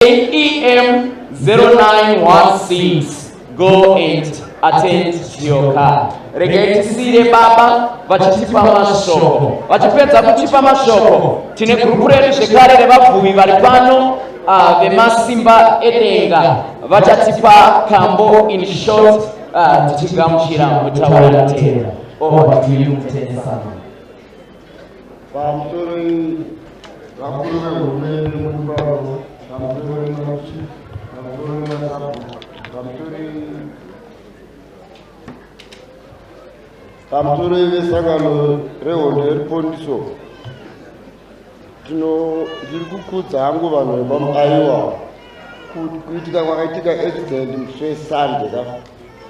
EM 0916 go and attend to your car. Regai tisire baba vachitipa mashoko. Vachipedza kutipa mashoko, tine gurupu redu zvekare revabvuvi vari pano uh, vemasimba edenga vachatipa kambo in short uh, tichigamuchira mutaura tera. Over to you, Mutende Samuel. Vamutorei vakuru vehurumende mukubavo vamutorei machi vamutorei masabu vamutorei vamutorei vesangano rehondo yeripondiso tino ndiri kukudza hangu vanhu vepamuaiwa kuitika kwakaitika accident musi wesande ka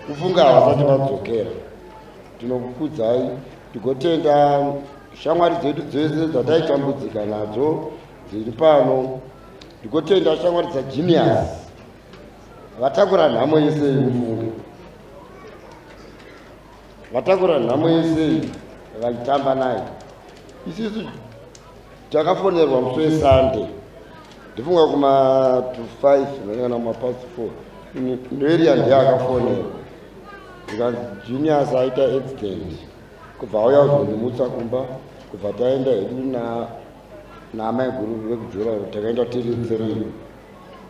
kufunga havasati vadzokera tinokukudzai Tigotenda shamwari dzedu dzese dzataitambudzika nadzo dziri pano. Tigotenda shamwari dzaGenius vatakura nhamo yese yemufunge vatakura nhamo yese vaitamba nayo isisu Takafonerwa musi weSunday ndifunga kuma to 5 ndakana kuma past 4 ndoeria ndiye akafonerwa ndikanzi juniors aita accident kubva auya kuzondimutsa kumba kubva taenda hedu na naamai guru vekujura takaenda tiri three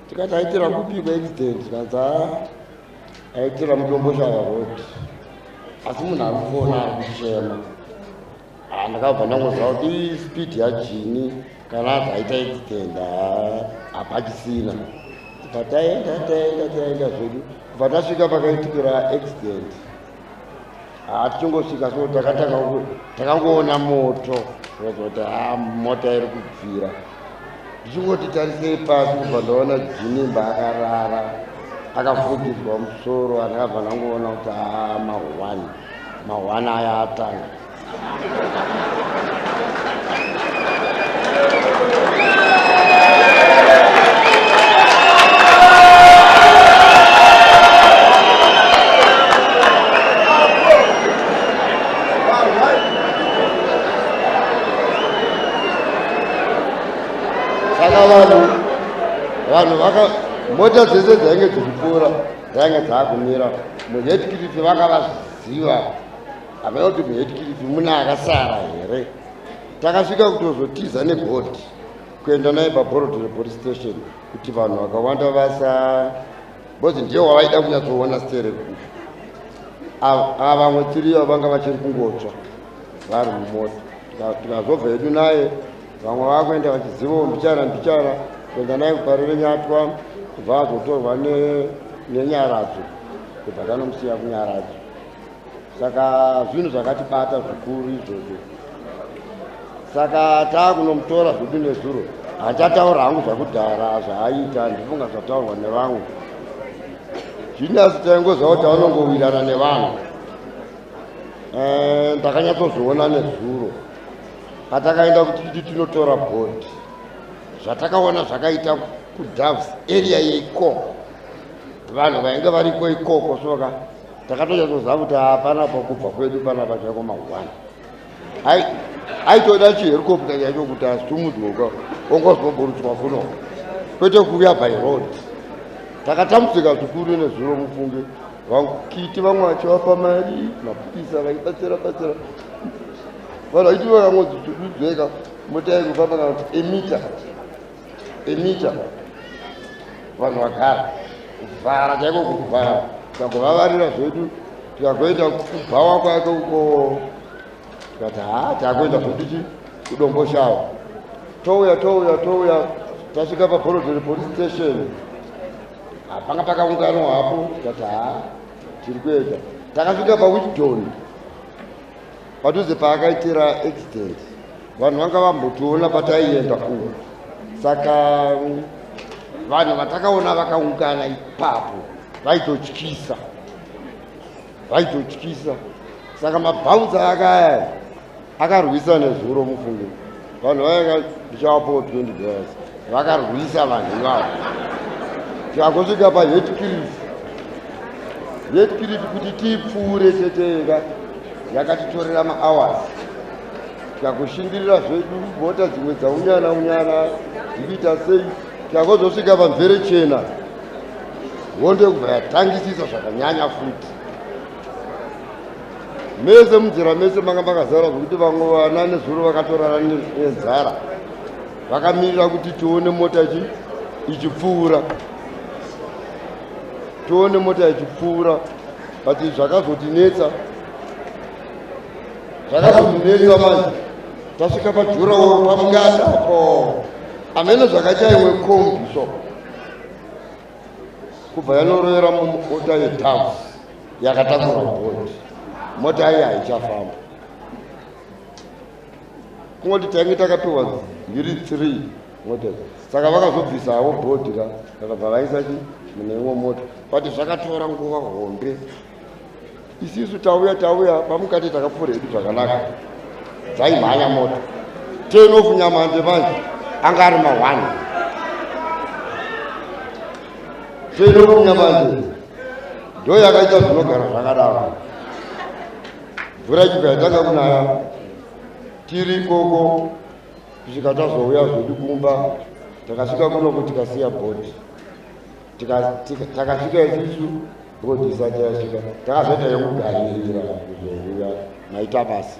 tikati aitira kupi kwaaccident tikanzi aitira mudomboshava road asi munhu ari kufona ari kuchema Ah, ndakabva ndangoziva kuti ii speed yajini kana azi aita accident ah, hapachisina bva taenda taenda taenda zvedu bva tasvika pakaitikira accident hatichingosvika ah, so takatanga takangoona moto kuti ha mota iri kubvira ndichingoti tarisei pasi kubva ndaona jinimba akarara akafugidzwa musoro andakabva ndangoona kuti ha mahwani Mahwana aya atanga. Saka vanhu vanhu vaka mota dzese dzainge dzichipfuura dzainge dzakumira muhetikiriti vanga vaziva havana kuti muhetikiriti mune akasara here takasvika kutozotiza nebhodhi kuenda naye pabhorodhi repolice station kuti vanhu vakawanda vasa bcause ndiye wavaida kunyatsoona stere kufu ava vamwe tiriyo vanga vachiri kungotsva vari mumota tikazobva yedu naye vamwe vakuenda vachizivawo mbichana mbichana kuenda naye kupari renyatwa kubva azotorwa nenyaradzo kubva tanomusiya kunyaradzo saka zvinhu zvakatibata zvikuru izvozvo saka taakunomutora zvedu nezuro hachataura hangu zvakudhara zvaaita ndifunga zvataurwa nevamwe zvinasi taingoziva kuti anongowirana nevanhu eh, ndakanyatsozoona nezuro patakaenda kuti titi tinotora bond zvatakaona zvakaita kudoves area yeikoko vanhu vainge variko ikoko soka takatonyatsoziva kuti hapana pakubva kwedu pana pachako mahwani aitoda chiherikopta chacho kuti asumudzweka ongozoburutswa kuno kwete kuuya by road takatambudzika zvikuru nezuro mufunge vakiti vamwe vachivafa mari mapurisa vaibatsira batsira vanhu vaiti vakangodzuzeka mota yai kufamba kana kuti emita emita vanhu vagara kuvhara chaiko kuvhara takuvavarira zvedu tikakuenda kubhawa kwake uko tikati haa takuenda zvedu chi kudomboshava touya touya touya tasvika paborodheri police station hapanga pakaungano hapo tikati haa tiri kuenda takasvika pawichdoni Padhuze paakaitira accident vanhu vanga vambotiona pataienda kuno, saka vanhu vatakaona vakaungana ipapo vaitotyisa, vaitotyisa. Saka mabhaunza akaya akarwisa nezuro mufunge. vanhu vaenga ndichavapowo 20 dollars vakarwisa vanhu ivavo tikangosvika pahetkirif hetkirif kuti tipfuure cheteka yakatitorera mahours tikakushingirira zvedu mota dzimwe dzaunyana unyana dzikuita sei tikangozosvika pamvere chena hondo kubva yatangisisa zvakanyanya futi mese munzira mese manga makazara zvekuti vamwe vana nezuro vakatorara nenzara vakamirira kuti tione mota chi ichipfuura tione mota ichipfuura but zvakazotinetsa zvakazotinetsa manje tasvika pajurawo pamungata po amene zvakachaiwe kombi so kubva yanorovera mumota yetaxi yakatakura bhondi mota yaye haichafamba kungoti tainge takapiwa mbiri three mota saka vakazobvisa havo bhodhi ra vakabva vaisa chi mune imwe mota but zvakatora nguva hombe isisu tauya tauya pamukati takapfuura hedu zvakanaka dzaimhanya moto ten of nyamande manje anga ari mahwani ten of nyamande ndo yakaita zvinogara zvakadaro mvura chibva yatanga kunaya tiri ikoko kusvika tazouya zvedu kumba takasvika kuno kuti kasiya bhodhi takasvika isusu ndotisati yasvika takazoita yekugarira kuzorira maita basi